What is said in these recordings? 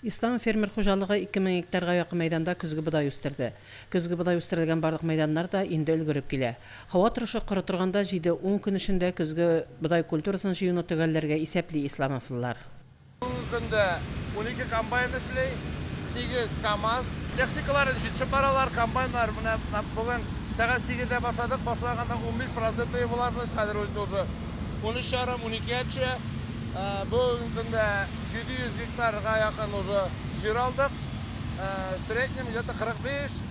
Ислам фермер хуҗалыгы ике мең гектарга якын мәйданда көзге бодай үстерде. Көзге бодай үстерелгән барлык мәйданнар да инде өлгереп килә. Һава торышы коры торганда җиде-ун көн эчендә көзге бодай культурасын җыюны төгәлләргә исәпли исламовлылар. Бүгенге көндә унике комбайн эшли, сигез КАМАЗ. Техникалар, җитче паралар, комбайннар менә бүген сәгать сигездә башладык, башлаганда унбиш проценты булардыз, хәзер инде уже унөч ярым, уникегә төшә. Бүгенге көндә 700 гектарга якын уже җир алдык. В среднем где-то 45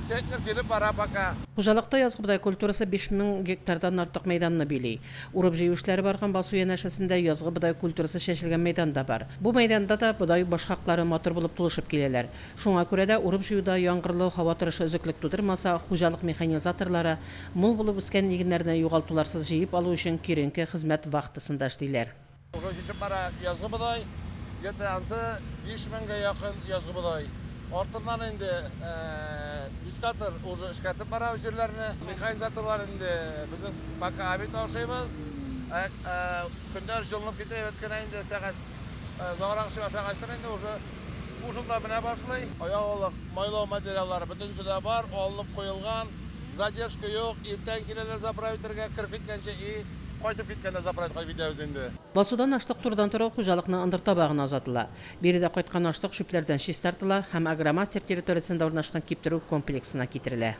центнер килеп бара пока. Хуҗалыкта язгы бодай культурасы 5000 гектардан артык мәйданны били. Урып-җыю эшләре барган басу янәшәсендә язгы бодай культурасы чәчелгән мәйдан да бар. Бу мәйданда да бодай башкаклары матур булып тулышып киләләр. Шуңа күрә дә урып-җыюда яңгырлы һава торышы өзеклек тудырмаса, хуҗалык механизаторлары Мул булып үскән игеннәрне югалтуларсыз җыеп алу өчен киеренке хезмәт вахтасында эшлиләр. Уже җитеп бара язгы бодай, где-то ансы биш меңгә якын язгы бодай. Артыннан инде дискатор уже эшкәртеп бара җирләрне. Механизаторлар инде безнең пока аби ташыйбыз. Көннәр җылынып китә, әйбәт кенә инде сәгать озаграк эшли башлагачтын инде уже. Бу шунда менә башлый. Ягулык, майлау материаллары бөтенесе дә бар, алынып куелган. Задержка юк, иртән киләләр заправить итәргә, кереп киткәнче и кайтып киткәндә заправить кайтып китәбез инде. Басудан ашлык турыдан-туры ук хуҗалыкның ындыр табагына озатыла. Биредә кайткан ашлык чүпләрдән чистартыла һәм Агромастер территориясендә урнашкан киптерү комплексына китерелә.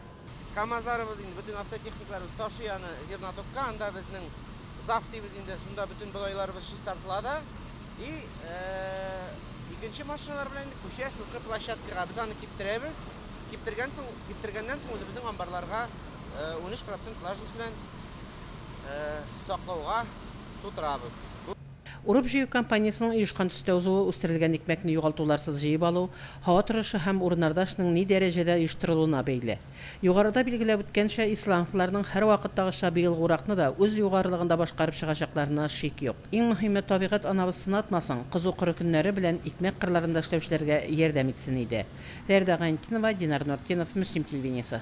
Камазларыбыз инде бөтен автотехникаларыбыз ташый аны зернотокка, анда безнең зав дибез инде, шунда бөтен бодайларыбыз чистартыла да. И икенче машиналар белән инде күчә шушы площадкага. Без аны киптерәбез. Киптергән соң, киптергәннән соң үзебезнең амбарларга 13% влажность белән саклауга тутырабыз. Урып-җыю кампаниясенең оешкан төстә узуы, үстерелгән икмәкне югалтуларсыз җыеп алу, һава торышы һәм урыннарда эшнең ни дәрәҗәдә оештырылуына бәйле. Югарыда билгеләп үткәнчә, исландцларның һәрвакыттагыча быелгы уракны да үз югарылыгында башкарып чыгачакларына шик юк. Иң мөһиме, табигать анабыз сынатмасын, кызу-коры көннәре белән икмәк кырларында эшләүчеләргә ярдәм итсен иде. Фәридә Гайнетдинова, Динар Нортдинов, Мөслим телевидениесе.